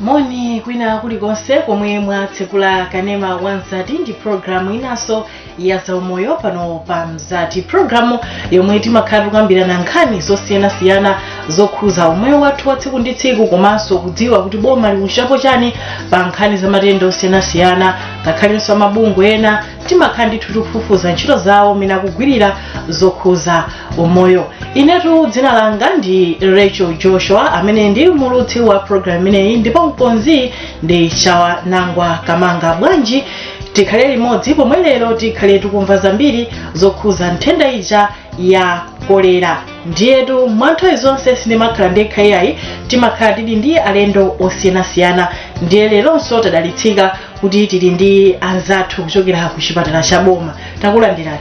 moni kwina kulikonse komwe mwatsekula kanema wa mzati ndi programu inanso ya zaumoyo pano pa mzati programu yomwe timakhala tikukambirana nkhani zosiyanasiyana zokhuza umoyo wathu wa tsiku ndi tsiku komanso kudziwa kuti boma likuchitapo chani pa nkhani za matenda osiyanasiyana ngakhalenso amabungwe ena timakhala ndithu tikufufuza ntchito zawo mmene akugwirira zokhuza umoyo inetu dzina langa ndi rachel joshua amene ndi mulutsi wa programu imeneyi ndipo mkonzi ndi chawa nangwa kamanga bwanji tikhale limodzi pomwe lero tikhale tikumva zambiri zokhuza nthenda ija ya kolera ndiyetu mwa nthawi zonse sindimakhala ndekha yayi timakhala tili ndi alendo osiyanasiyana ndiye leronso tadalitsika kuti tili ndi anzathu kuchokera ku chipatala cha boma takulandirani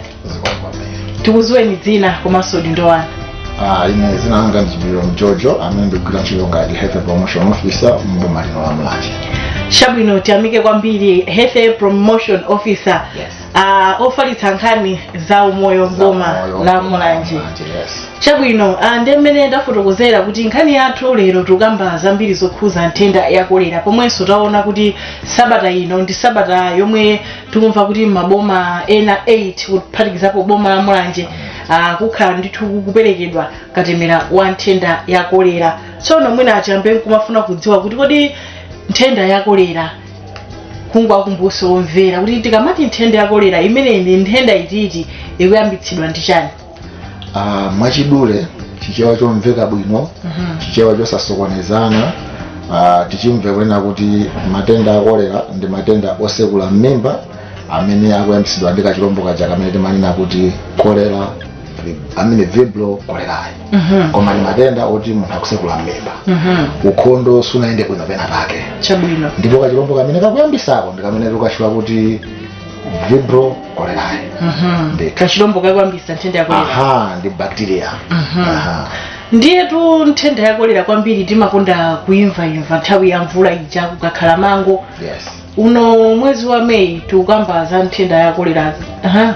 tikuziweni dzina komanso udindo wanu ine zina langa ndi chipiliro mjojo amene ndikugwira ntchito ngati health promotion officer mboma lino la mulanje chabwino tiyamike kwambiri health promotion officer Yes. ofalitsa nkhani za umoyo m'boma la mulanje yes. chabwino ah, ndi mmene ndafotokozera kuti nkhani yathu lero tikukamba zambiri zokhuza nthenda ya kolera pomwenso taona kuti sabata ino ndi sabata yomwe tikumva kuti maboma ena 8 kuphatikizapo boma la mulanje ah, kukhala ndithu kuperekedwa katemera wa nthenda ya kolera tsono mwina achiyambe kumafuna kudziwa kuti kodi nthenda ya kolera kungowakumbutsa omvera kuti tikamati nthenda ya kolera imeneyi ndi nthenda iti ikuyambitsidwa ndi chani Ah, mwachidule chichewa chomveka bwino chichewa chosasokonezana ah, tichimve kunena kuti matenda a kolera ndi matenda osekula m'mimba amene akuyambitsidwa ndi kachilombo kaja kamene timanena kuti kolera amene vibrio cholerae Mhm. koma ndi matenda oti munthu akusekula mmimba Mhm. ukhondo sunayende bwino pena pake chabwino ndipo kachilombo kamene kakuyambisako ndi kamene tikukatchula kuti vibrio cholerae Mhm. Ndithu. kachilombo kakuyambisa nthenda ya kolera aha ndi bacteria Mhm. aha ndiyetu nthenda ya kolera kwambiri timakonda kuimvaimva nthawi ya mvula ija kukakhala mango yes uno mwezi wa meyi tikukamba za nthenda ya kolera Aha.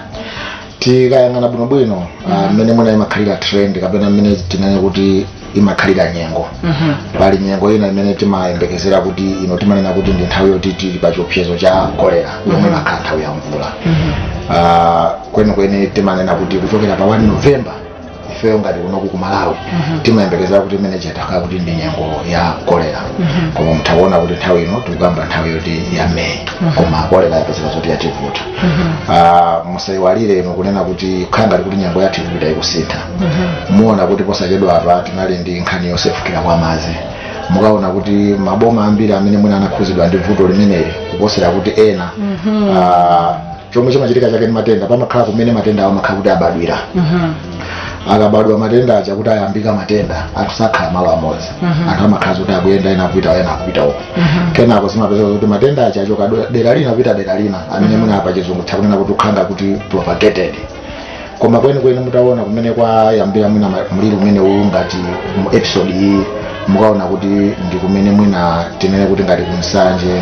tikayang'ana bwinobwino ah, mmene mwina imakhalira trend kapena mmene tinene kuti imakhalira nyengo pali nyengo ina imene timayembekezera kuti ino timanena kuti ndi nthawi yoti tili pa chiopsezo cha kolera yomwe imakhala nthawi ya mvula Ah, kwenikweni timanena kuti kuchokera pa 1 novemba ifeyo ngati kunoku ku malawi timayembekezera kuti imene chitakhala kuti ndi nyengo ya kolera koma muthakuona kuti nthawi ino tikukamba nthawi yoti ya meyi koma kolera yapezeka zoti yativuta Ah, musayiwalire inu kunena kuti kukhala ngati kuti nyengo yathu ikupita ikusintha muona kuti posachedwa apa tinali ndi nkhani yosefukira kwa madzi mukaona kuti maboma ambiri amene mwina anakhuzidwa ndi vuto limeneli kuposera kuti ena ah, chomwe chimachitika chake ndi matenda pamakhala kumene matenda awo amakhala kuti abadwira akabadwa matenda aja kuti ayambika matenda anthu sakhala malo amodzi anthu amakhala kuti akuyenda ena akupita ena akupita uko kenako zimapezeka kuti matenda aja achoka do- dera lina kupita dera lina amene mwina apa chizungu tikunena kuti ukhala kuti propagated koma kwenikweni mukaona kumene kwayambira mwina ma- mliri umene uwu ngati mu episode iyi mukaona kuti ndi kumene mwina tinene kuti ngati ku nsanje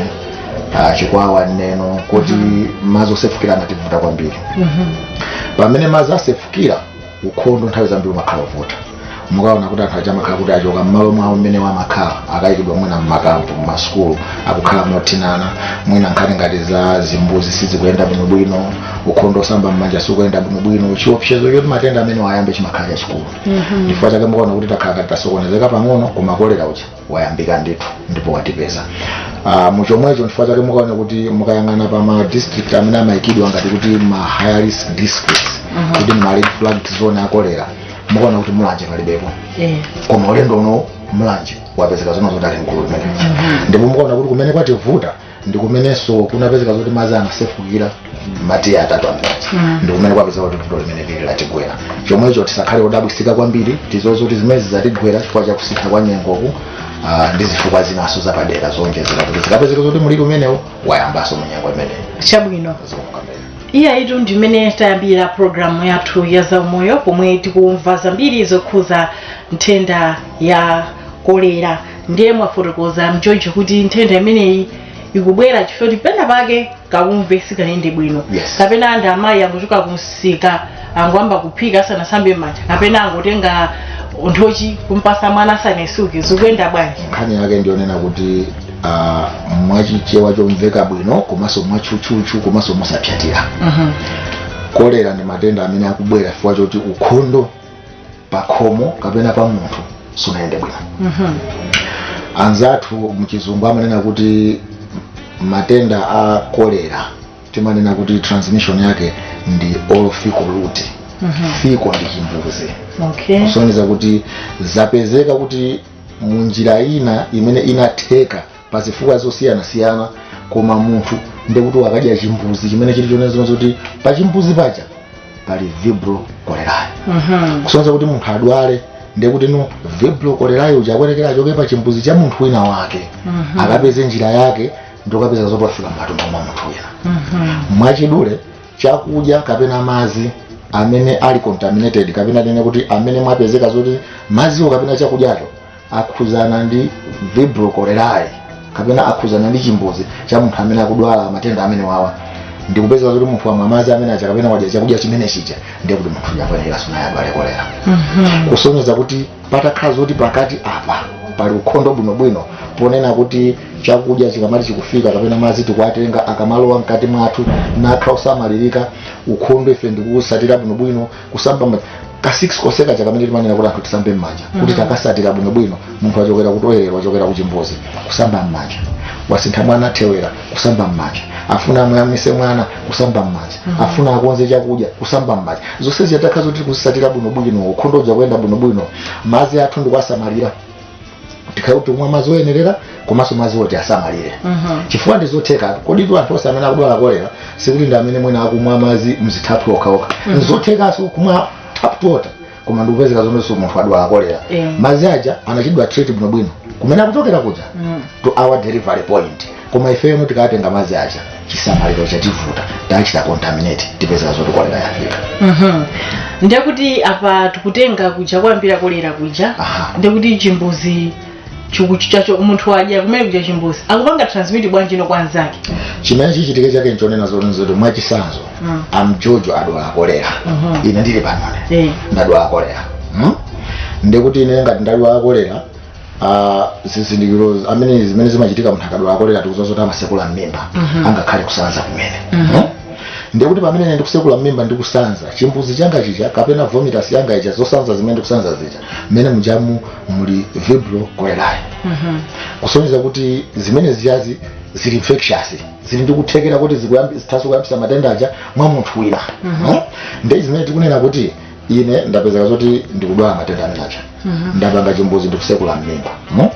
ah, chikwawa neno kuti madzi osefukira amativuta kwambiri pamene madzi asefukira ukhondo nthawi zambiri umakhala wovuta mukaona kuti anthu aja amakhala kuti achoka mmalo mwawo mmene amakhala akayikidwa mwina mmakampu mmasukulu akukhala mothinana mwina nkhani ngati za zimbuzi sizikuyenda bwinobwino ukhondo wosamba mmanja sikuyenda bwinobwino chiopsezo choti matenda amenewa ayambe chimakhala chachikulu chifukwa chake mukaona kuti takhala ngati tasokonezeka pang'ono koma kolera uja wayambika ndithu ndipo watipeza uh, muchomwecho chifukwa chake mukaona kuti mukayang'ana pa ma district amene amayikidwa ngati kuti ma high risk districts Mhm. kuti ma red flag zone akolera mukaona kuti mulanje palibepo Eh. koma ulendo uno mulanje wapezeka zona zoti ali mgulu limeneli ndipo mukaona kuti kumene kwativuta ndikumenenso kunapezeka zoti madzi anasefukira madera atatu amene ndikumene kwapezeka kuti vuto limeneli latigwera chomwecho tisakhale odabwitsika kwambiri tizozo kuti zimenezi zatigwera chifukwa cha kusintha kwa nyengoku ah, ndi zifukwa zinanso zapadera zowonjezera kuti zikapezeke zoti mliri umenewu wayambanso mu nyengo imeneyi chabwino iyayitu ndimene tayambira programu yathu ya zaumoyo pomwe tikumva zambiri zokhuza nthenda ya kolera ndiye mwafotokoza mchoncho kuti nthenda imeneyi ikubwera chifukwa kuti pena pake kaumve sikayende bwino Yes. kapena anthu amayi angochoka kumsika angoyamba kuphika asanasambe m'manja kapena angotenga nthochi kumpasa mwana asanatsuke zikuyenda bwanji nkhani yake ndiyonena kuti ah, mwachichewa chomveka bwino komanso mwatchutchutchu komanso mosapsyatira Mhm. kolera ndi matenda amene akubwera chifukwa choti ukhondo pakhomo kapena pa munthu sunayende bwino anzathu mchizungu amanena kuti matenda a kolera timanena kuti transmission yake ndi oral fecal route fecal ndi chimbuzi okay kusonyeza kuti zapezeka kuti munjira ina imene inatheka pa zifukwa zosiyanasiyana koma munthu ndekuti wakadya chimbuzi chimene chili chonezino zoti pa chimbuzi paja pali vibrio cholerae Mhm. kusonyeza kuti munthu adwale ndekuti no vibrio cholerae uja akuyenekera achoke pa chimbuzi cha munthu wina wake Mhm. akapeze njira yake ndikukapeza zoti wafika m'matumbo mwa munthu wina Mhm. mwachidule chakudya kapena madzi amene ali contaminated kapena tinene kuti amene mwapezeka zoti madziwo kapena chakudyacho akhuzana ndi vibrio cholerae kapena akhuzana ndi chimbuzi cha munthu amene akudwala matenda amenewawa ndikupezeka kuti munthu wamwa madzi amene aja kapena wadya chakudya chimene chija ndiye kuti munthu uja apanikira zoona adwale kolera kusonyeza kuti patakhala zoti pakati apa pali ukhondo bwinobwino ponena kuti chakudya chikamati chikufika kapena madzi tikuwatenga akamalowa mkati mwathu n'kukhala osamalirika ukhondo ife ndikuwutsatira bwinobwino kusamba m'manja ka 6 konse kaja kamene timanena kuti anthu tisambe m'manja kuti titakatsatira bwinobwino munthu wachokera ku toilet wachokera kuchimbudzi kusamba m'manja wasintha mwana thewera kusamba m'manja afuna amuyamwise mwana kusamba m'manja afuna akonze chakudya kusamba m'manja zonse zija zitakhala zoti tikutsatira bwinobwino ukhondo uja kuyenda bwinobwino madzi athu ndikuwasamalira tikhale kuti tikumwa madzi oyenerera komanso madzi oti asamalire chifukwa ndi zotheka kodi tu anthu onse amene akudwala kolera sikuti ndi amene mwina akumwa madzi mzithaphwi okhaokha nzothekanso kumwa tap water koma ndikupezeka zoonanso munthu adwala kolera Yeah. madzi aja anachitidwa treat bwinobwino kumene akuchokera kuja to our delivery point koma ifeyo no tikatenga madzi aja chisamaliro chativuta tachita contaminate tipezeka zoti kolera yafika Mhm. ndiye kuti apa tikutenga kuja kuyambira kolera kuja Aha. ndiye kuti chimbuzi chiku- chacho munthu wadya kumene kuja chimbuzi akupanga transmit bwanji no kwa mnzake chimene chichitike chake nchonena zoti nzoti mwachisanzo Mm. amjojo adwala kolera Mhm. ine ndili panone Eh. ndadwala kolera Hmm? ndikuti ine ngati ndadwala kolera Ah, zizindikiro amene zimene zimachitika munthu akadwala kolera tikudziwa zoti amatsekula mmimba angakhale kusanza kumene Eh? ndiye kuti pamene ine ndikutsekula mmimba ndikusanza chimbuzi changa chija kapena vomitus yanga ija zosanza zimene ndikusanza zija mmene mujamu muli vibrio cholerae kusonyeza kuti zimene zijazi zili infectious zili ndi kuthekera kuti zikuyambi- zithaso kuyambisa matenda aja mwa munthu wina Eh? ndiye zimene tikunena kuti ine ndapezeka zoti ndikudwala matenda amene aja ndapanga chimbuzi ndikutsekula mmimba no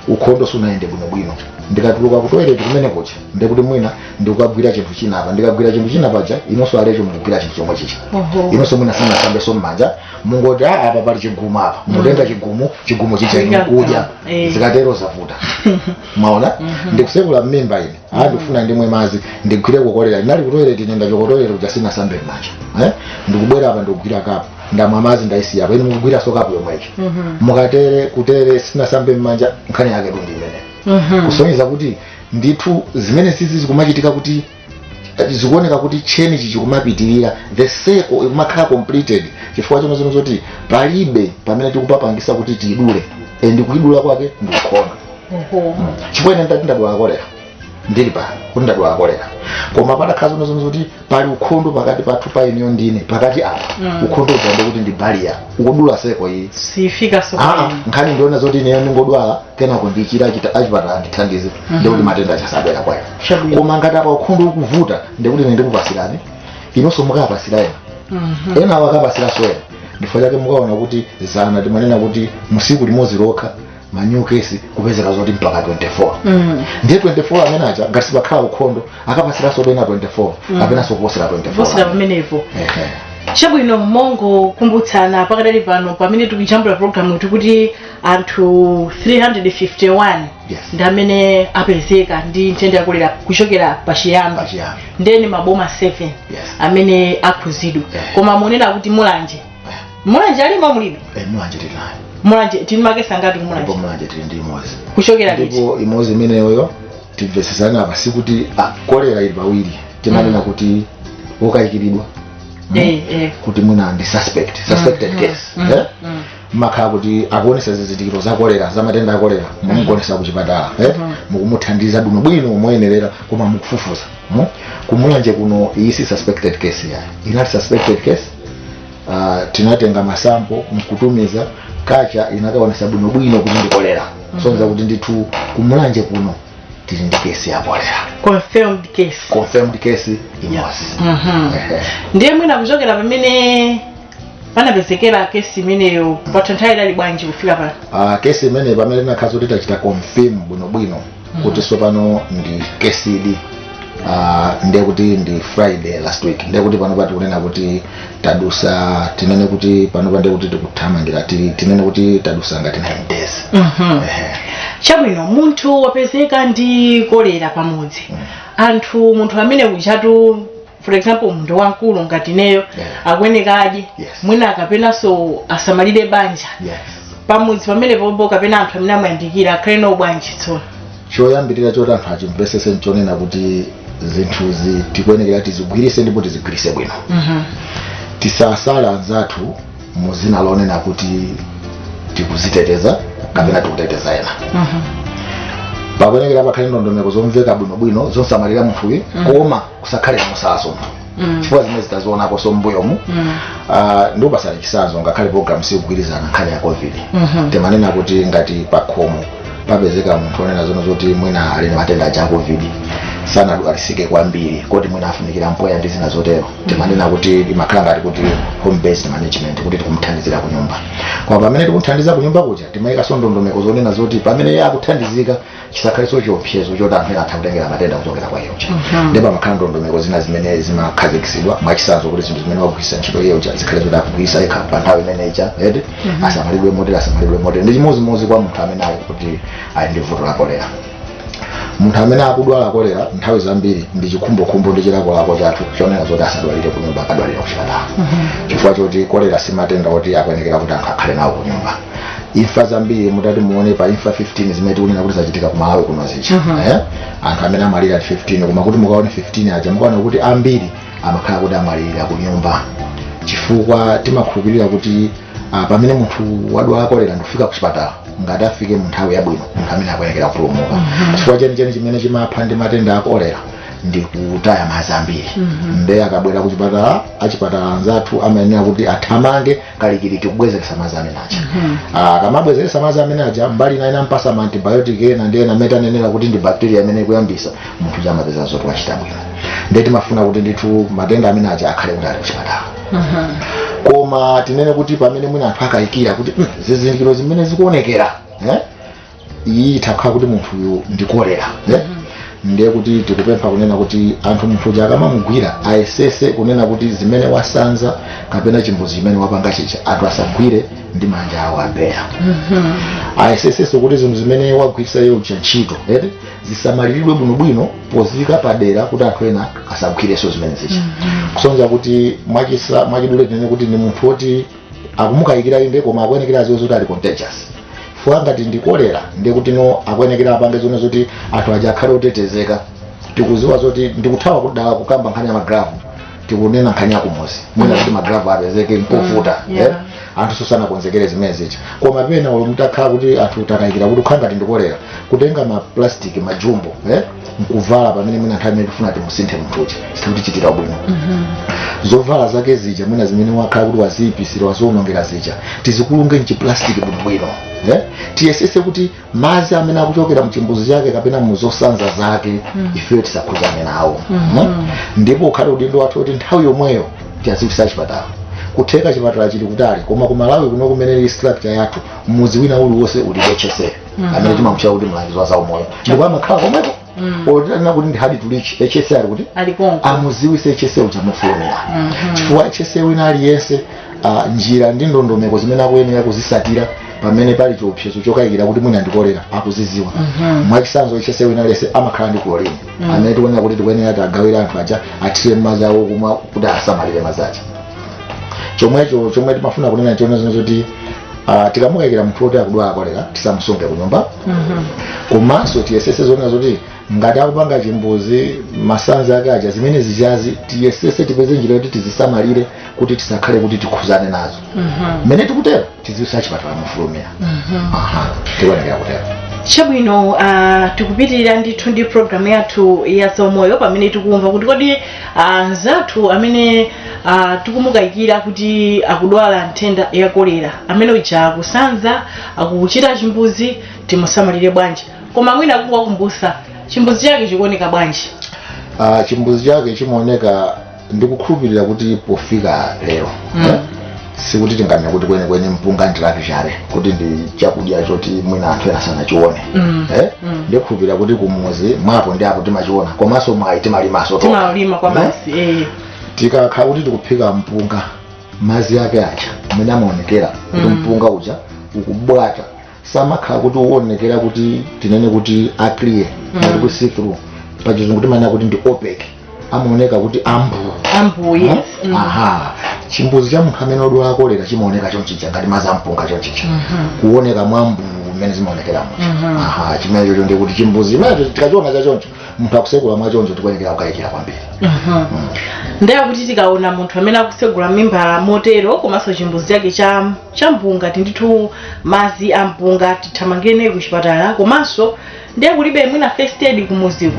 ukhondo sunayende bwinobwino ndikatuluka ku toilet kumene kuja ndikuti mwina ndikukagwira chinthu china apa ndikagwira chinthu china paja inunso alecho mukugwira chinthu chomwe chija Oho. inunso mwina simunasambeso mmanja mungoti "Ah, apa pali chigumu apa mutenga chigumu chigumu chija inu kudya Eh. zikatero zavuta mwaona ndikutsekula mmimba ine ndikufuna ndimwe madzi ndigwireko kolera ndinali kutoilet ine ndachoka kutoilet kuja sinasambe mmanja eh? ndikubwera apa ndikugwira kapu ndamwa madzi ndaisiya apa ine mukugwiranso kapu yomweyo mukatere kutere sinasambe mmanja nkhani yaketu ndi imeneyo kusonyeza kuti ndithu zimenezizi zikumachitika kuti eh, zikuoneka kuti cheni ichi chikumapitirira the circle ikumakhala completed chifukwa chino zino zoti palibe pamene tikupapangisa kuti tiidule and kuidula kwake ndi ukhondo chifukwa ine ndati ndadwala kolera ndili pa kuti ndadwala kolera koma patakhala zoona zoona zoti pali ukhondo pakati pathu pa ineyo ndine pakati apa Mm. ukhondo uja ndekuti ndi baliya ukudula seko iyi sifikaso Ah, nkhani ndi yonena zoti ineyo ndingodwala kenako ndichira achita- achipatala andithandize Mhm. ndikuti matenda aja sabwera kwayo Chabwino. koma ngati apa ukhondo ukuvuta ndikuti ine ndikupasirani inonso mukapasira ena Mhm. enawo akapasiraso eya ndichifukwa chake mukaona kuti dzana timanena kuti mutsiku limodzi lokha manyu kesi kupezeka zoti mpaka 24 Mm. ndiye 24 amene aja ngati sipakhala ukhondo akapasiranso ena 24 Mm. kapenanso kuposera posera 24 pamenepo Ehe. chabwino mongokumbutsana pakadali pano pamene tikujambula programu tikuti anthu 351 Yes. ndi amene apezeka ndi nthenda ya kolera kuchokera pachiyambi Pachiyambi. nde ndi maboma 7 Yes. amene akhuzidwa Yeah. koma munena kuti mulanje mulanje ilimo mulibe Eh, mulanje tili nayo mulanje tili makesi angati ndipo kumulanje mulanje tili ndi imodzi kuchokera liti ndipo imodzi imeneyoyo timvesesana apa sikuti ah, kolera ili pawiri timanena kuti wokayikiridwa Mm. Eh, eh. kuti mwina ndi suspect suspected Mm, case mm, eh? mm. amakhala kuti akuonesa zizindikiro za kolera za matenda a kolera mwamugoneka ku chipatala eh? Mhm. mukumuthandiza bwino bwino moyenerera koma mukufufuza mm? kumulanje kuno iyi si suspected case iyayi inali suspected case uh, tinatenga masampo nkutumiza ku KCH inakaonesa bwinobwino kuti ndi kolera sonza kuti ndithu kumulanje kuno tili ndi kesi ya kolera confirmed case confirmed case imodzi Mhm. Ehe. ndiye mwina kuchokera pamene panapezekera kesi imeneyo patha nthawi yaitali bwanji kufika pano Ah, kesi imeneyo pamene tinakhala zoti tachita confirm bwinobwino kuti tsopano ndi kesidi uh, ndiye kuti ndi friday last week ndiye kuti panopa tikunena kuti tadusa tinene kuti panopa ndiye kuti tikuthamangira ti- tinene kuti tadusa ngati 9 days Mhm. Ehe. chabwino munthu wapezeka ndi kolera pamudzi anthu munthu ameneyu ujatu for example munthu wamkulu ngati ineyo Yeah. akuyeneka adye Yes. mwina kapenanso asamalire banja yes pamudzi pamene pompo kapena anthu amene amuyandikira akhale nawo bwanji tsono choyambirira choti anthu achimvesese nchonena kuti zinthuzi tikuyenekera tizigwirise ndipo tizigwirise bwino Mhm. tisasala anzathu mu dzina lonena kuti tikuziteteza kapena tikuteteza ena Mhm. pakuyenekera pakhale ndondomeko zomveka bwinobwino zosamalira munthuyo koma kusakhale kumusalaso Mm. chifukwa zimene zitazionaponso mbuyomu Mm. Ah, ndipereke chisanzo ngakhale program sikugwirizana nkhani ya covid Mhm. timanena kuti ngati pakhomo papezeka munthu onena zono zoti mwina ali ndi matenda aja a covid sanadwalisike kwambiri koti mwina afunikira mpweya ndi zina zotero timanena kuti imakhala ngati kuti home based management kuti tikumuthandizira ku nyumba koma pamene tikumuthandiza ku nyumba kuja timayikanso ndondomeko zonena zoti pamene iye akuthandizika chisakhalenso chiopsezo choti anthu ena atha kutengera matenda kuchokera kwa iye uja ndiye pamakhala ndondomeko zina zimene zimakhazikitsidwa mwachisanzo kuti zinthu zimene wagwiritsa ntchito iye uja zikhale zoti akugwiritsa yekha pa nthawi imene ija eti asamalidwe motere asamalidwe motere ndi chimodzimodzi kwa munthu amene ali kuti ali ndi vuto la kolera munthu amene akudwala kolera nthawi zambiri ndi chikhumbokhumbo ndi chilakolako chathu chonena zoti asadwalire kunyumba akadwalire kuchipatala chifukwa choti kolera si matenda oti akuyenekera kuti anthu akhale nawo kunyumba imfa zambiri mutati muone pa imfa 15 zimene tikunena kuti zachitika ku Malawi kuno zija Mhm. eh? anthu amene amalira ati 15 koma kuti mukaone 15 aja mukaona kuti ambiri amakhala kuti amalira ku nyumba chifukwa timakhulupirira kuti ah, pamene munthu wadwala kolera ndikufika ku chipatala ngati afike mu nthawi yabwino munthu amene akuyenekera kupulumuka chifukwa chenicheni chimene chimapha ndi matenda a kolera ndi kutaya madzi ambiri m'thupi ndiye akabwera ku chipatala achipatala anzathu amayenera kuti athamange kalikiliki kubwezeretsa madzi amene aja Ah, akamabwezeretsa madzi amene aja mbali ina namupasa ma antibiotic ena ndi ena mmene tanenera kuti ndi bacteria imene ikuyambisa munthu uja amapeza zoti wachira bwino ndiye timafuna kuti ndithu matenda amene aja akhale kuti ali kuchipatala koma tinene kuti pamene mwina anthu akayikira kuti "Mm, zizindikiro zimene zikuonekera eh? iyi itha kukhala kuti munthu uyu ndi kolera eh? ndiye kuti tikupempha kunena kuti anthu munthu uja akamamugwira ayesese kunena kuti zimene wasanza kapena chimbuzi chimene wapanga chija anthu asagwire ndi manja awo abeya ayesesenso kuti zinthu zimene wagwiritsa iye uja ntchito eti zisamaliridwe bwinobwino poziyika padera kuti anthu ena asagwirenso zimene zija kusonyeza kuti mwachisa mwachidule tinene kuti ndi munthu woti akumukayikira inde koma akuyenekera aziwe zoti ali contagious chifukwa ngati ndi kolera ndiye kuti no akuyenekera apange zonse zoti anthu aja akhale otetezeka tikuziwa zoti ndikuthawa kudala kukamba nkhani ya magulovu tikunena nkhani yakumuzi mwina kuti magulovu apezeke nkovuta Mm, yeah. eh? anthu sanakonzekere zimene zija koma pena olo mutakhala kuti anthu takayikira kuti ukhala ngati ndikolera kutenga maplastic majumbo eh? nkuvala pamene mwina nthawi imene tifuna timusinthe munthuyu sikuti chitira bwino zovala zake zija mwina zimene wakhala kuti waziipisira waziwonongera zija tizikulunge mchiplastiki bwinobwino eh? tiyesese kuti madzi amene akuchokera mchimbuzi chake kapena muzosanza zake ifeyo tisakhuzane nawo mm? ndipo ukhale udindo wathu kuti nthawi yomweyo tiwaziwisa chipatala kutheka chipatala chili kutali koma kumalawi kuno kumene ili structure yathu mudzi wina uliwonse uli ndi hsa amene timamutcha kuti mlangizi wa zaumoyo ndipo amakhala komweko otinena kuti ndi hard to reach hsa ali kuti alikonko amuziwise hsa uja mofulumira chifukwa hsa wina aliyense ah, njira ndi ndondomeko zimene akuyenera kuzisatira pamene pali chiopsezo chokayikira kuti mwina ndikolera akuziziwa mwachisanzo hsa wina aliyense amakhala ndi chlorine amene tikuyenera kuti tikuyenera tiwagawire anthu aja athire madzi awo akumwa kuti asamalire madzi aja chomwecho chomwe timafuna kunena choona nchonena zoti Ah, tikamukayikira munthu woti akudwala kolera tisamusunge ku nyumba komanso tiyesese zonena zoti ngati akupanga chimbuzi masanzi ake aja zimene zijazi tiyesese tipeze njira yoti tizisamalire kuti tisakhale kuti tikhuzane nazo mmene tikutero tiziwisa chipatala mofulumira Aha, tikuyenekera kutero chabwino uh, tikupitirira ndithu ndi programu yathu ya zaumoyo pamene tikumva kuti kodi uh, nzathu amene Ah, tikumukayikira kuti akudwala nthenda ya kolera amene uja akusanza akuchita chimbuzi timusamalire bwanji koma mwina kungowakumbusa chimbuzi chake chikuoneka bwanji Ah, chimbuzi chake chimaoneka ndikukhulupirira kuti pofika lero Mm. eh, sikuti tinganena kuti kwenikweni mpunga ndi rare chabe kuti ndi chakudya choti mwina anthu ena sanachione Mm. eh, Mm. ndikhulupirira kuti kumuzi mwa apo ndi apo timachiona komanso mwayi timalimaso tokha. timalima kwathu Eh? basi eh. tikakhala kuti tikuphika mpunga madzi ake aja amene amaonekera kuti Mm. mpunga uja ukubwata samakhala kuti owonekera kuti tinene kuti aclear Mm. mm. ku see through pachizungu timanena kuti ndi opaque amaoneka kuti ambuu ambuu yes Mm. aha chimbuzi cha munthu amene odwala kolera chimaoneka chonchija ngati madzi ampunga chonchija kuoneka mwambuu mmene zimaonekeramo aha chimenecho ndi kuti chimbuzi imenecho tikachiona chachoncho munthu akusegula mwachoncho tikuyenekera kukayikira kwambiri ndiye kuti tikaona munthu amene akusegula mmimba motero komanso chimbuzi chake cha cha mpunga titi ndithu madzi a mpunga tithamangire naye ku chipatala komanso ndiye kulibe mwina first aid kumuziko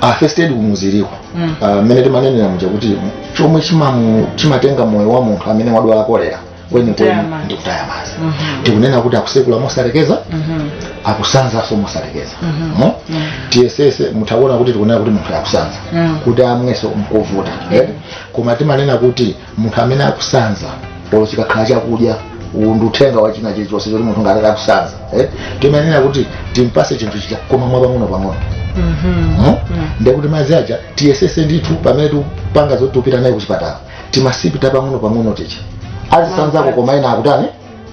ah, first aid kumuziriko Mm. Ah, mmene timanenera muja kuti chomwe chimamu- chimatenga moyo wa munthu amene wadwala kolera kwenikweni kutaya madzi. ndi kutaya madzi Mhm. tikunena kuti akutsegula mosalekeza Mhm. akusanzanso mosalekeza Mhm. no? Mhm. tiyesese mutakuona kuti tikunena kuti munthu akusanza Mhm. kuti amwenso nkovuta eh? koma timanena kuti munthu amene akusanza olo chikakhala chakudya uwu ndi uthenga wa china chilichonse choti munthu ngati akusanza eh? timanena kuti timpase chinthu chija koma mwa pang'ono pang'ono Mhm. no? Mhm. ndekuti madzi aja tiyesese ndithu pamene tikupanga zoti tipita naye kuchipatala timasipi tapang'ono-pang'ono tija azisanzako koma ena akutani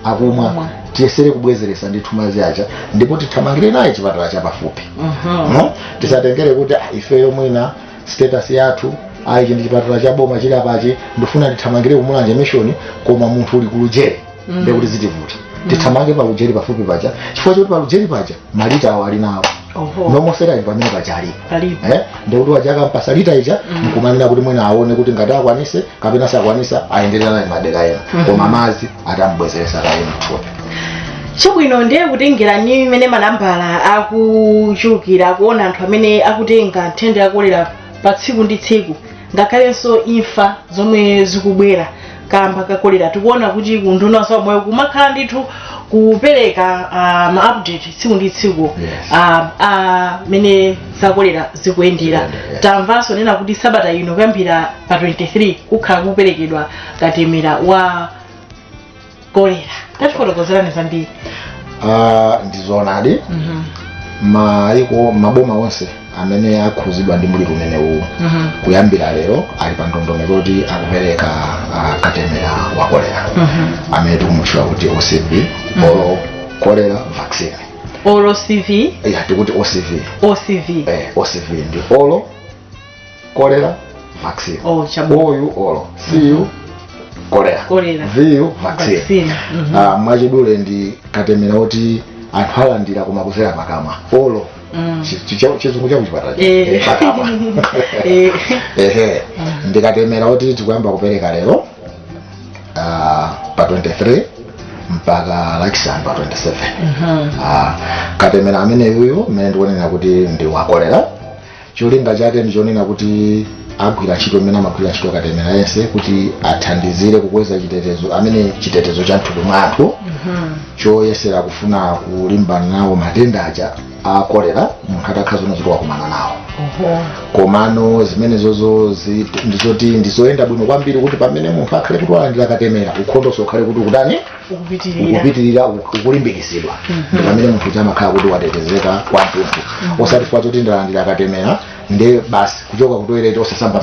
akumwa Akumwa. tiyesere kubwezeresa ndithu madzi aja ndipo tithamangire naye chipatala chapafupi Mhm. no? tisatengere kuti "Ah, ifeyo mwina status yathu ayi ichi ndi chipatala cha boma chili apachi ndifuna ndithamangire ku Mulanje Mission koma munthu uli ku Lujeri Mm. ndekuti zitivuta tithamange pa Lujeri pafupi paja chifukwa choti pa Lujeri paja ma Ringer awo ali nawo Oho. normal saline pamene paja alipo Palipo. Eh, ndekuti atayamba ampatsa lita ija Mm. nkumanena kuti mwina aone kuti ngati akwanise kapena sakwanisa ayenderera naye madera ena Mhm. koma madzi atambwezeretsa kaye mthupi chabwino ndiye kutengera ndi mmene manambala akuchulukira kuona anthu amene akutenga nthenda ya kolera pa tsiku ndi tsiku ngakhalenso imfa zomwe zikubwera kamba ka kolera tikuona kuti ku unduna wa zaumoyo kumakhala ndithu kupereka ah, ma update tsiku ndi tsiku Yes. ah, ah, mmene zakolera zikuyendera Zikuyendera, yeah. tamvanso kunena kuti sabata ino kuyambira pa 23 kukhala kuperekedwa katemera wa kolera tatifotokozerani zambiri Ah, ndizoonadi Mhm. m'maiko m'maboma onse amene akhuzidwa ndi mliri umene uwu Mhm. kuyambira lero ali pa ndondomeko yoti akupereka ah, katemera wa kolera Mhm. amene tikumutchula kuti OCV oral cholera vaccine oral CV ya tikuti OCV OCV eh, OCV ndi oral cholera vaccine Oh, chabwino. O-yu oral C-yu cholera Cholera. V-yu vaccine Vaccine. Mhm. Ah, mwachidule ndi katemera oti anthu alandira koma kudzera pakamwa oral Mm. Chi- chi- cha- chizungu cha kuchipatala Eh. Eh, pakamwa Eh. ehe ndi katemera woti tikuyamba kupereka lero ah, pa 23 mpaka lachisanu pa 27 Mhm. Ah, katemera ameneyuyu mmene ndikunena kuti ndi wakolera cholinga chake ndichonena kuti agwira ntchito mmene amagwira ntchito katemera yense kuti athandizire kukweza chitetezo amene chitetezo cha mthupi mwa anthu choyesera kufuna kulimbana nawo matenda aja a kolera munthu atakhala zona zoti wakumana nawo komano zimenezozo zi- ndizoti ndizoyenda bwino kwambiri kuti pamene munthu akhale kuti walandira katemera ukhondonso ukhale kuti ukutani ukupitirira ukupitirira uku- ukulimbikitsidwa ndi pamene munthu uja amakhala kuti watetezeka kwathunthu osati chifukwa choti ndalandira katemera nde basi kuchoka kutoilet osasamba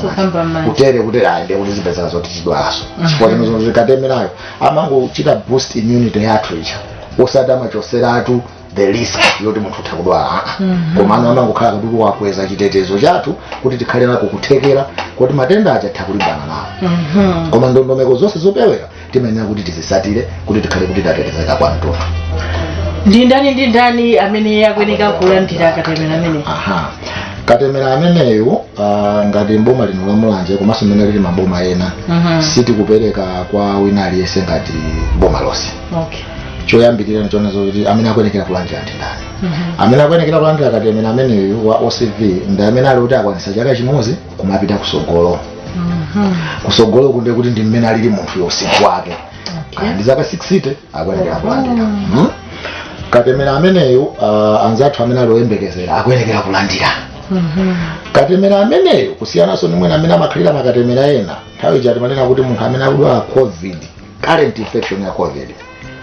kutere kuti ayi nde kuti zipezeka zoti tidwalanso chifukwa katemerayo amangochita boost immunity yathu ija osati amachoseratu the risk yoti munthu utha kudwala aa komano amangokhala kuti wakweza chitetezo chathu kuti tikhale nako kuthekera kuti matenda aja titha kulimbana nawo Mhm. koma ndondomeko zonse zopewera timayenera kuti tizisatire kuti tikhale kuti tatetezeka kwathunthu ndi ndani ndi ndani amene akuyenekera kulandira katemera amene aha katemera ameneyo ah, ngati mboma lino la mulanje komanso mmene alili maboma ena Mhm. sitikupereka kwa wina aliyense ngati boma lonse okay choyambirira ndinena zoti amene akuyenekera kulandira ndi ndani amene akuyenekera kulandira katemera ameneyu wa ocv ndi amene ali kuti akwanisa chaka chimodzi kumapita kusogolo kusogolo koko ndekuti ndi mmene alili munthu uja msinkhu wake Kaya ndi zaka 60 akuyenekera kulandira Mhm. katemera ameneyu uh, anzathu amene ali oyembekezera akuyenekera kulandira katemera ameneyo kusiyananso ndi mmene amakhalira makatemera ena nthawi ija timanena kuti munthu amene akudwala covid current infection ya covid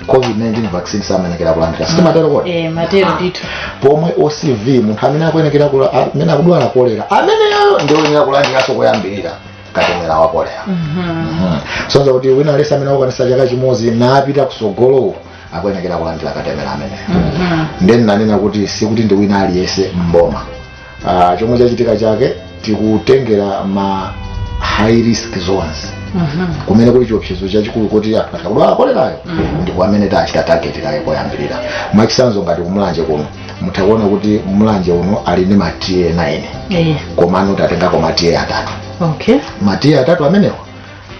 covid-19 vaccine samenekera kulandira sitimatero kodi eh timatero ndithu pomwe ocv munthu amene akuyenekera kula- a- amene akudwala kolera ameneyo ndioyenera kulandiranso koyambirira katemera wa kolera Mhm. kusonyeza kuti wina aliyense amene akukwanisa chaka chimodzi kumapita kusogolowo akuyenekera kulandira katemera ameneyo Mhm. nde ndinanena kuti sikuti ndi wina aliyense mboma uh, chomwe chachitika chake tikutengera ma high risk zones kumene kuli chiopsezo chachikulu kuti anthu atha kudwala kolerayo ndi kumene tachita target kaye koyambirira mwachisanzo ngati kumulanje kuno mutha kuona kuti mulanje uno ali ndi ma TA 9 Eh, komano tatengako ma TA atatu okay ma TA atatu amenewa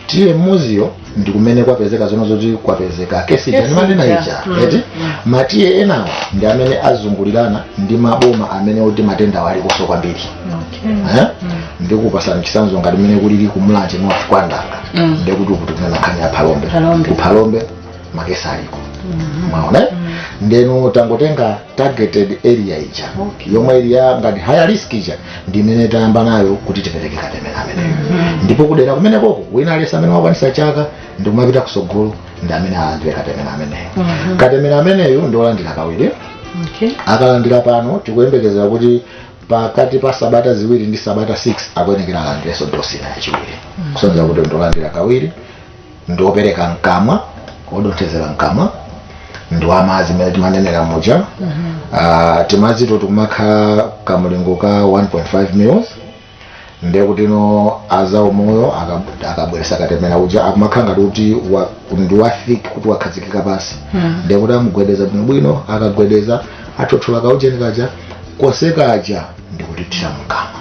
TA mmodziyo ndi kumene kwapezeka zoona zoti kwapezeka kesi ndimanena ija Mm, eti mm. ma TA enawo ndi amene azungulirana ndi maboma amene oti matendawo alikonso kwambiri okay Eh? ndikupasani chisanzo ngati mmene kulili kumulanje north kwa Ndanga Mm. ndekuti tikunena nkhani ya phalombe Phalombe. kuphalombe makesi aliko mwaona eh? ndeno tangotenga targeted area ija Okay. yomwe ili ya ngati high risk ija ndi imene tayamba nayo kuti tipereke katemera ameneyo ndipo kudera kumene koko wina aliyense amene wakwanisa chaka ndi kumapita kusogolo ndi amene alandire katemera ameneyo katemera ameneyo ndi olandira kawiri okay akalandira pano tikuyembekezera kuti pakati pa sabata ziwiri ndi sabata 6 akuyenekera alandirenso dosi ina yachiwiri kusonyeza kuti ndi olandira kawiri ndi wopereka mkamwa wodonthezera mkamwa ndi wamazi mmene timanenera muja Ah, timazito tikumakhala kamulingo ka 1.5 mils ndiye kuti no azaumoyo akab- akabweresa katemera uja akumakhala ngati kuti wa- ndi wa thick kuti wakhazikika pansi ndiye kuti amugwedeza bwinobwino akagwedeza athothola kaujeni kaja konsekaja ndikutithira mkamwa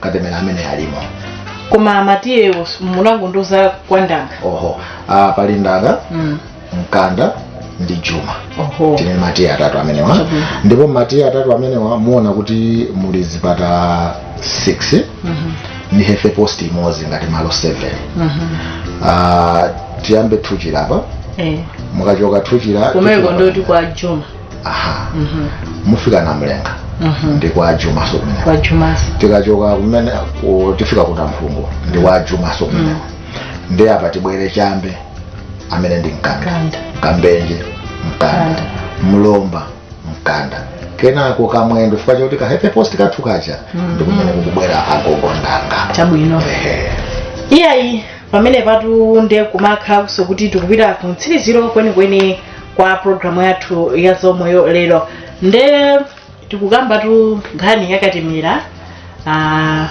katemera amene alimo koma ma TA wo munangondiuza kwa ndanga oho ah, pali ndanga mm. mkanda ndi juma oho tili ndi ma TA atatu amenewa Chabwino. ndipo ma TA atatu amenewa muona kuti muli zipatala 6 Mhm, ndi health post imodzi ngati malo 7 mhm. Ah, tiyambe thuchira apa eh. mukachoka thuchira kumeko thuchira- ndoti kwa juma aha mufika namulenga ndi kwa ajumaso kumene kwa juma tikachoka kumene ku- tifika ku namphungo ndi kwa ajumaso kumene ndi apa tibwere chambe amene ndi mkanda Mkanda. kambenje mkanda Mkanda. mlomba mkanda kenako kamwendo chifukwa choti ka health post kathu kaja ndi kumene kukubwera agogo ndanga chabwino Ehe. iyayi pamenepatu nde kumakhalaso kuti tikupita ku mtsiriziro kwenikweni kwa programu yathu ya zaumoyo lero nde tikukambatu nkhani yakatemera ah,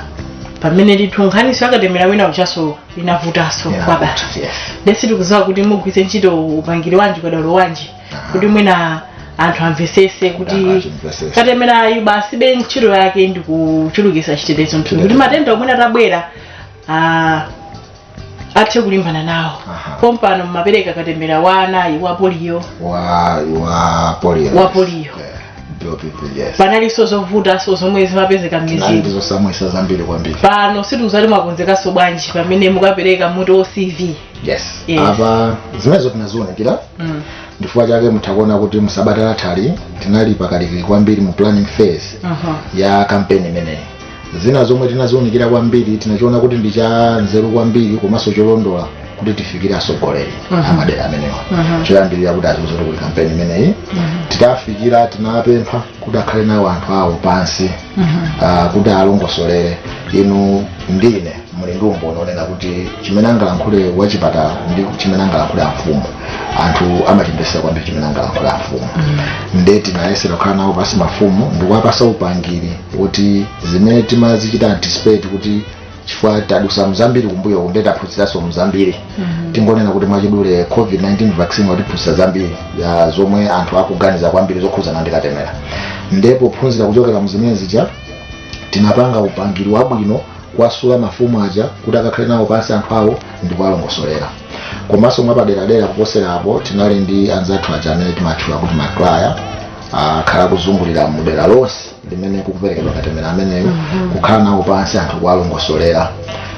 pamene ndithu nkhaniso yakatemera wina ujaso inavutaso Yeah, kwabata yeah. nde sitikuziwa kuti mugwiritse ntchito upangiri wanji ukadaulo wanji Aha. kuti mwina anthu amvesese Yeah, kuti amvesese. katemerayu basibe ntchito yake ndikuchulukisa chitetezo mthupi kuti matenda omwe atabwera ah, athe kulimbana nawo Aha. pompano mumapereka katemera wa anayu wa poliyo wa wa polio Wa polio. Eh, yes panalinso zovutanso zomwe zimapezeka m'mizimu ndizosamvesa zambiri kwambiri pano sitikuziwa kuti mwakonzekanso bwanji pamene mukapereka mwati OCV yes Yes. apa zimenezo tinaziunikira mm. ndichifukwa chake muthakuona kuti musabata lathali tinali pakalikili kwambiri mu planning phase Aha. ya kampeni imeneyi zina zomwe tinaziunikira kwambiri tinachiona kuti ndi cha nzeru kwambiri komanso cholondola kuti tifikire atsogoleri Mhm. amadera amenewa Mhm. choyambirira kuti aziwe kuti kuli kampeni imeneyi titafikira tinapempha kuti akhale nawo anthu awo pansi ah, kuti alongosolere inu ndine muli ndi umboni onena kuti chimene angalankhule wachipatala ndi chimene angalankhule amfumu anthu amachimvesera kwambiri chimene angalankhule amfumu nde tinayesera kukhala nawo pasi mafumu ndikuwapasa upangiri kuti zimene timazichita anticipate kuti chifukwa tadusa mzambiri kumbuyoku nde taphunziranso mzambiri tingonena kuti mwachidule covid-19 vaccine watiphunzitsa zambiri ya zomwe anthu akuganiza kwambiri zokhudzana ndi katemera nde pophunzira kuchokera mzimene zija tinapanga upangiri wabwino kuwasula mafumu aja kuti akakhale nawo pansi anthu awo ndi kuwalongosolera komanso mwapaderadera kuposera apo tinali ndi anzathu aja amene timatchula kuti ma crier akhala akuzungulira mudera lonse limene kukuperekedwa katemera ameneyo kukhala nawo pansi anthu kuwalongosolera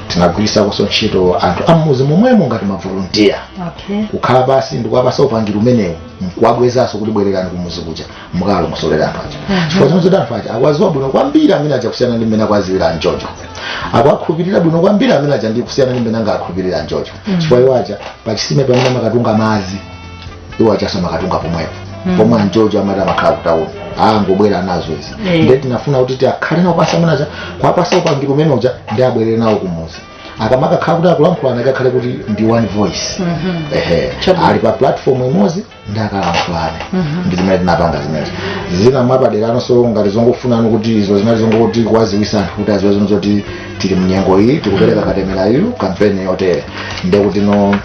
tinagwiritsanso ntchito anthu ammudzi momwemo ngati mavolontiya okay kukhala pansi ndikuwapasa upangiri umenewu nkuwabwezanso kuti bwererani kumuzi kuja mukalongosolere anthu aja chifukwa choti anthu aja akuwaziwa bwino kwambiri amene aja kusiyana ndi mmene akuwaziwira anjojo akuwakhulupirira bwino kwambiri amene aja ndi kusiyana ndi mmene angakhulupirira anjojo chifukwa iwo aja pachisime pamene amakatunga madzi iwo ajanso amakatunga pomwepo Mm. pomwe anjojo amatha amakhala kutauni angobwera nazo izi Eh. nde tinafuna kuti tikhale nawo pansi amene aja kuwapasa upangiri umene uja nde abwerere nawo kumuzi akamakakhala kuti akulankhulana ikakhale kuti ndi one voice Mhm. ehe Chabwino. ali pa platform imodzi nde akalankhulane Mhm. ndi zimene tinapanga zimenezo zina mwapaderanso ngati zongofunani kuti izo zinali zongoti kuwaziwisa anthu kuti aziwe izi zoti tili mnyengo iyi tikupereka katemerayu kampeni yotere ndekuti no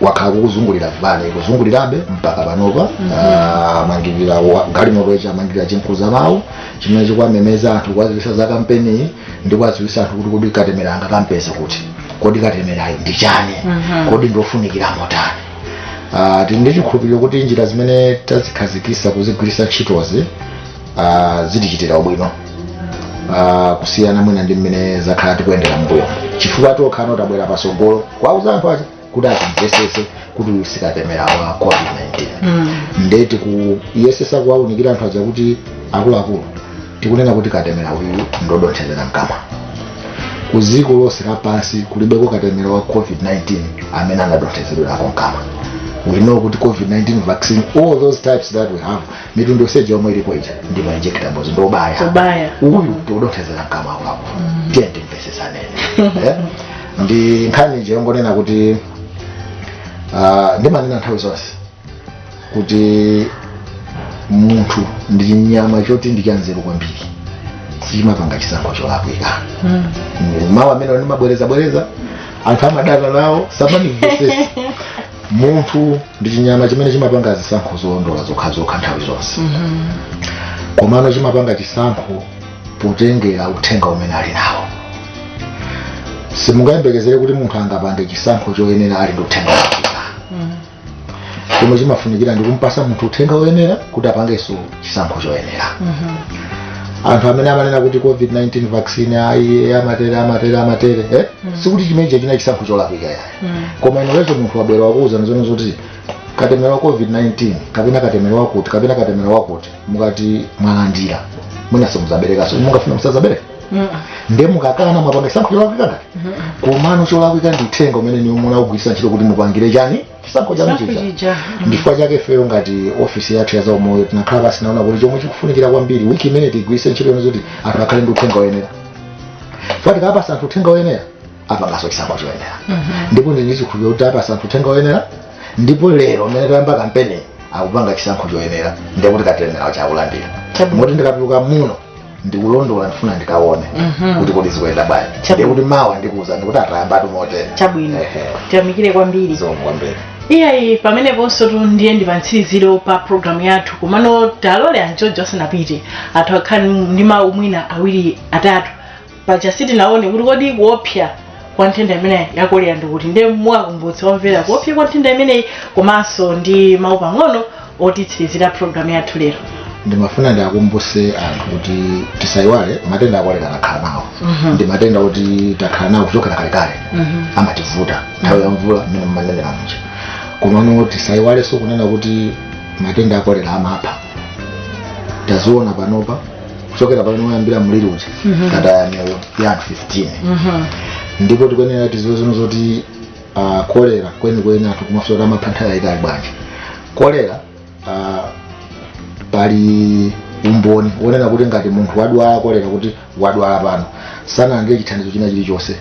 kwakhala kukuzungulira van ikuzungulirabe mpaka panopa Ah, amangirira wa- galimoto ija amangirira chimkuza mawu chimene chikuwamemeza anthu kuwadziwisa za kampeni iyi ndi kuwadziwisa anthu kuti kodi katemera angakampeze kuti kodi katemerayu ndi chani kodi ndiofunikira motani Ah, tili ndi chikhulupiriro kuti njira zimene tazikhazikisa kuzigwiritsa ntchitozi ah, zitichitira ubwino ah, kusiyana mwina ndi mmene zakhala zikuyendera mbuyo chifukwa takhala titabwera pasogolo kuwauza anthu aja kuti atimvesese kuti uyu sikatemera wa covid-19 Mm. nde tikuyesesa kuwaunikira anthu aja kuti akuluakulu tikunena kuti katemera uyu ndodonthezera mkamwa ku dziko lonse lapansi kulibeko katemera wa covid-19 amene anadonthezedwerako mkamwa we know kuti covid-19 vaccine all those types that we have mitundu yonse ija yomwe ilipo ija ndi ma injectables ndi obaya Obaya. uyu tikudonthezera mkamwa kwako tiyeni timvesesane Eh? ndi nkhani ija yongonena kuti ah, ndimanena nthawi zonse kuti munthu ndi chinyama choti ndi chanzeru kwambiri sichimapanga chisankho cholakwika mawu amene ndimabwerezabwereza anthu amadana nawo samandimvesesa munthu ndi chinyama chimene chimapanga zisankho zolondola zokhazokha nthawi zonse komano chimapanga chisankho potengera uthenga umene ali nawo simungayembekezere kuti munthu angapange chisankho choyenera alibe uthenga wabwino chomwe chimafunikira ndi kumpasa munthu uthenga woyenera kuti apangenso chisankho choyenera anthu amene amanena kuti covid-19 vaccine ayi amatere amatere amatere eh? sikuti chimenecho ndi chisankho cholakwika yayi koma inuyo munthu wabwera wakuwuzani zoona zoti katemera wa covid-19 kapena katemera wakuti kapena katemera wakuti mukati mwalandira mwina simuzaberekanso mungafuna musazabereka ndiye mukakana mwapanga chisankho cholakwika ngati komano cholakwika ndi uthenga umene inuyo munawugwiritsa ntchito kuti mupangire chani chisankho chanu Chisankho chija chija. Mhm. ndifukwa chake ifeyo ngati ofisi yathu ya zaumoyo tinakhala pansi tinaona kuti chomwe chikufunikira kwambiri wiki imeneyi tigwiritse ntchito yonse kuti anthu akhale ndi uthenga woyenera chifukwa tikapasa anthu uthenga woyenera apangaso chisankho choyenera ndipo ndili ndi chikhulupiriro kuti apatsa anthu uthenga woyenera ndipo lero mmene tayamba kampeni akupanga chisankho choyenera ndiye kuti katemera uja akulandira Chabu- moti ndikatuluka muno ndikulondola ndifuna ndikaone Mhm. kuti kodi zikuyenda bwanji Chabu- ndiye kuti mawa ndikuuzani kuti aa tayambatu motere chabwino Ehe. tiyamikire kwambiri zikomo kwambiri iyayi pameneponsotu ndiye ndi pamtsiriziro pa programu yathu komano talole anjojo asanapite athu akhale ndi mawu mwina awiri atatu paja sitinaone kuti kodi kuopsa kwa nthenda imeneyi ya kolera ndi kuti ndiye muwakumbutse omvera kuopsa kwa nthenda imeneyi komanso ndi mawu pang'ono otitsirizira programu yathu lero ndimafuna ndiakumbuse anthu kuti tisayiwale matenda akolera takhala nawo Mhm. ndi matenda woti takhala nawo kuchokera kalekale Mhm. amativuta nthawi ya mvula mmene mmanenera muja komano tisayiwalenso kunena kuti matenda akolera amapha taziona panopa kuchokera pamene wayambira mliri uja tataya miyoyo ya anthu 15 ndipo tikuyenera tiziwenso zoti ah, kolera kwenikweni anthu amafunsa kuti amapha nthawi yayitali bwanji kolera ah, pali umboni wonena kuti ngati munthu wadwala kolera kuti wadwala pano sanalandire chithandizo china chilichonse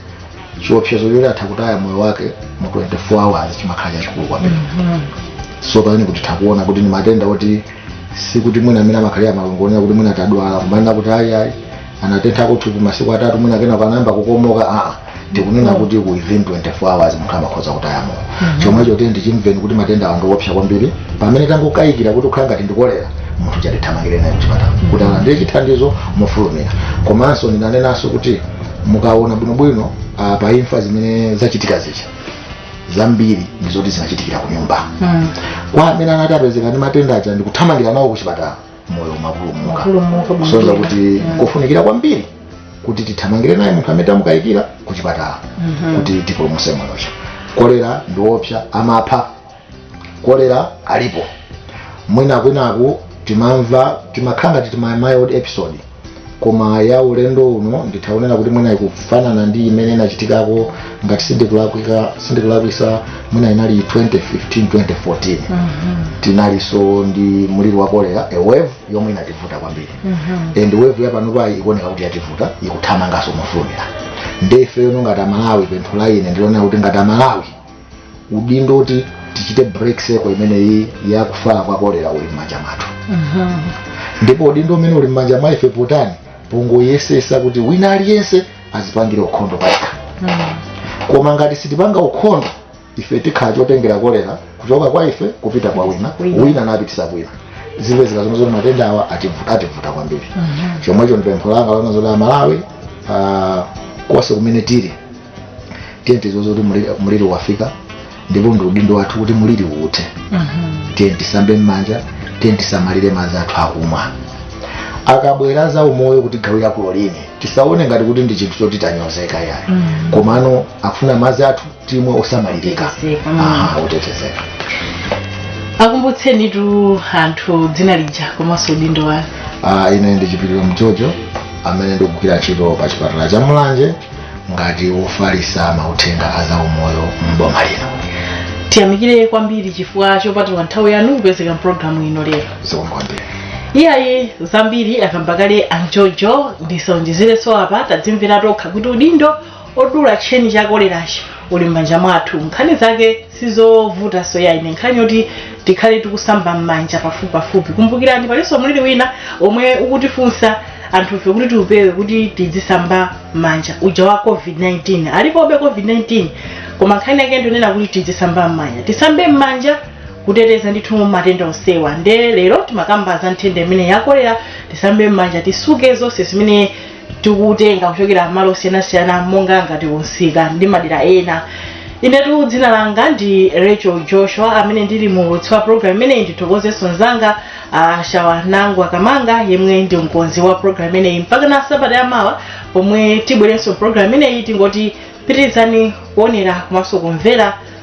chiopsezo choti atha kutaya moyo wake mu 24 hours chimakhala chachikulu kwambiri so pamene kuti tikuona kuti ni matenda oti sikuti mwina mmene amakhalira malungo onena kuti mwina tadwala kumanena kuti ayi ayi anatentha thupi masiku atatu mwina kenaka nayamba kukomoka aa tikunena kuti within 24 hours munthu amakhoza kutaya moyo chomwecho tiyeni timve kuti matenda awa ndiopsa kwambiri pamene tangokayikira kuti ikukhala ngati ndikolera munthu uja tithamangire naye kuchipatala kuti alandire chithandizo mofulumira komanso ndinenenso kuti mukaona bwinobwino ah, pa imfa zimene zachitika zija zambiri ndi zoti zinachitikira ku nyumba Mm. kwa amene anati apezeka ndi matenda aja ndikuthamangira nawo ku chipatala moyo umapulumuka Umapulumuka bwino. kusonyeza kuti Mm. kofunikira kwambiri kuti tithamangire naye munthu amene tamukayikira ku chipatala Mhm. kuti tipulumuse moyo chifukwa kolera ndi wopsa amapha kolera alipo mwinakwinaku timamva timakhala ngati ndi mild episode koma ya ulendo uno nditha kunena kuti mwina ikufanana ndi imene inachitikako ngati sindikulakwika sindikulakwisa mwina inali 2015 2014 tinalinso ndi mliri wa kolera a wave yomwe inativuta kwambiri and wave yapanopayi ikuoneka kuti yativuta ikuthamanganso mofulumira nde ifeyo no ngati amalawi pempho la ine ndilonena kuti ngati amalawi udindo oti tichite break cycle imeneyi ya kufala kwa kolera uli m'manja mwathu ndipo udindo umene uli m'manja mwa ife potoani pongoyesesa kuti wina aliyense adzipangire ukhondo payekha koma ngati sitipanga ukhondo ife tikhala chotengera kolera kuchoka kwa ife kupita kwa wina Wina. wina napititsa kwina zipezeka zomwe zoti matenda awa ativu- ativuta kwambiri chomwecho ndipempho langa lonena zoti amalawi ah, konse kumene tili tiyeni tidziwe kuti muliri- muliri wafika ndipo ndi udindo wathu kuti muliri uthe tiyeni tisambe mmanja tiyeni tisamalire madzi athu akumwa akabwera za umoyo kutigawira kulolini tisaone ngati kuti ndi chinthu choti tanyozeka yayi komano akufuna madzi athu timwe osamalirika Otetezeka, mm. Aha, otetezeka akumbutsenitu anthu dzina lija komanso udindo wanu Ah, ine ndi chipiliro mjojo amene ndikugwira ntchito pa chipatala cha mulanje ngati wofalisa mauthenga a zaumoyo m'boma lino tiyamikire kwambiri chifukwa chopatula nthawi yanu kupezeka mpulogalamu ino lero zikomo kwambiri iyayi zambiri akamba kale a mjojo ndisaonjezerenso apa tadzimvera tokha kuti udindo odula tcheni cha kolerachi uli m'manja mwathu nkhani zake sizovutanso ayi nkhani yoti tikhale tikusamba m'manja pafupipafupi kumbukirani palinso mliri wina omwe ukutifunsa anthufe kuti tiupewe kuti tidzisamba m'manja uja wa covid-19 alipobe covid-19 koma nkhani yake ndionena kuti tidzisamba m'manja tisambe m'manja kuteteza ndithu matenda onsewa nde lero timakamba za nthenda imeneyi ya kolera tisambe m'manja tisuke zonse zimene tikutenga kuchokera m'malo osiyanasiyana monga ngati kumsika ndi madera ena inetu dzina langa ndi rachel joshua amene ndili muulutsi wa programu imeneyi ndithokozenso mzanga uh, shawa nangu akamanga yemwe ndi mkonzi wa programu imeneyi mpaka na sabata yamawa pomwe tibwerenso programu imeneyi tingoti pitirizani kuonera komanso kumvera